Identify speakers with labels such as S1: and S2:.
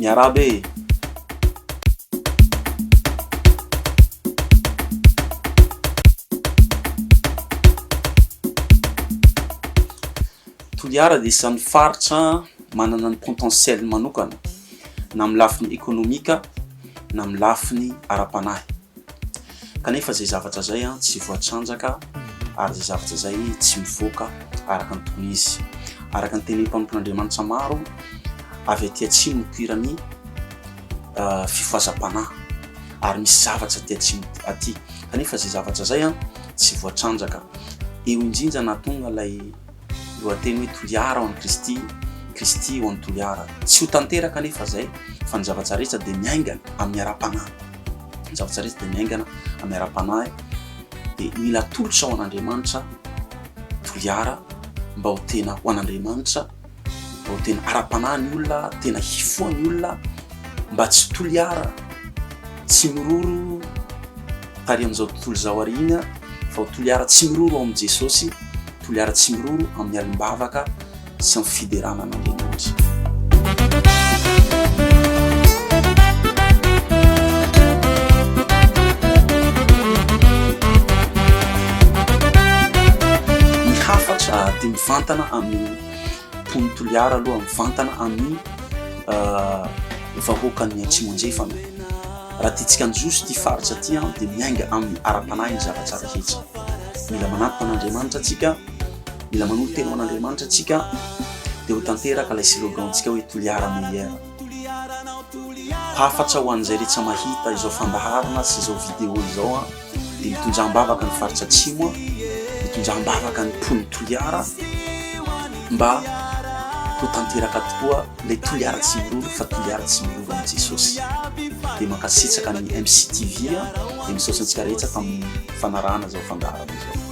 S1: Miarahaba e! Toliara dia isan'ny faritra manana ny potentiel-ny manokana na amin'ny lafiny ekonomika na amin'ny lafiny ara-panahy. Kanefa izay zavatra izay tsy voatrandraka ary izay zavatra izay tsy mivoaka araka ny tokony izy. Araka ny tenin'ny mpanompon'Andriamanitra maro avy aty atsimo nipoiran'ny fifazam-panahy ary misy zavatra aty atsimo aty. Kanefa izay zavatra izay tsy voatrandraka. Eo indrindra nahatonga ilay Lohateny hoe Toliara ao amin'i Kristy, Kristy ao amin'i Toliara. Tsy ho tanteraka anefa izay fa ny zavatra rehetra dia miaingana amin'ny ara-panahy. Ny zavatra rehetra dia miaingana amin'ny ara-panahy dia mila atolotra ho an'Andriamanitra Toliara mba ho tena ho an'Andriamanitra mba ho tena ara-panahy ny olona, tena hifoha ny olona mba tsy Toliara, tsy miroro tary amin'izao tontolo izao aoriana fa ho Toliara tsy miroro ao amin'i Jesosy, Toliara tsy miroro amin'ny alim-bavaka sy amin'ny fiderana an'Andriamanitra. Ny hafatra dia mivantana amin'ny mpon'ny Toliara aloha, mivantana amin'ny vahoakan'ny Atsimo Andrefana. Raha tiantsika hanjoso ity faritra ity dia miainga amin'ny ara-panahy ny zavatra rehetra. Mila manatona an'Andriamanitra antsika, mila manolo-tena ho an'Andriamanitra antsika, dia ho tanteraka ilay slogan-tsika hoe Toliara Meilleur. Hafatra ho an'izay rehetra mahita izao fandaharana sy izao vidéo izao. dia nitonjam-bavaka ny faritra atsimo aho, nitonjam-bavaka ny mponin'i Toliara mba ho tanteraka tokoa ilay Toliara tsy miroro fa Toliara tsy miroro amin'i Jesosy. Dia mankasitraka ny MCTV, dia misaotra antsika rehetra tamin'ny fanarahana izao fandaharana izao.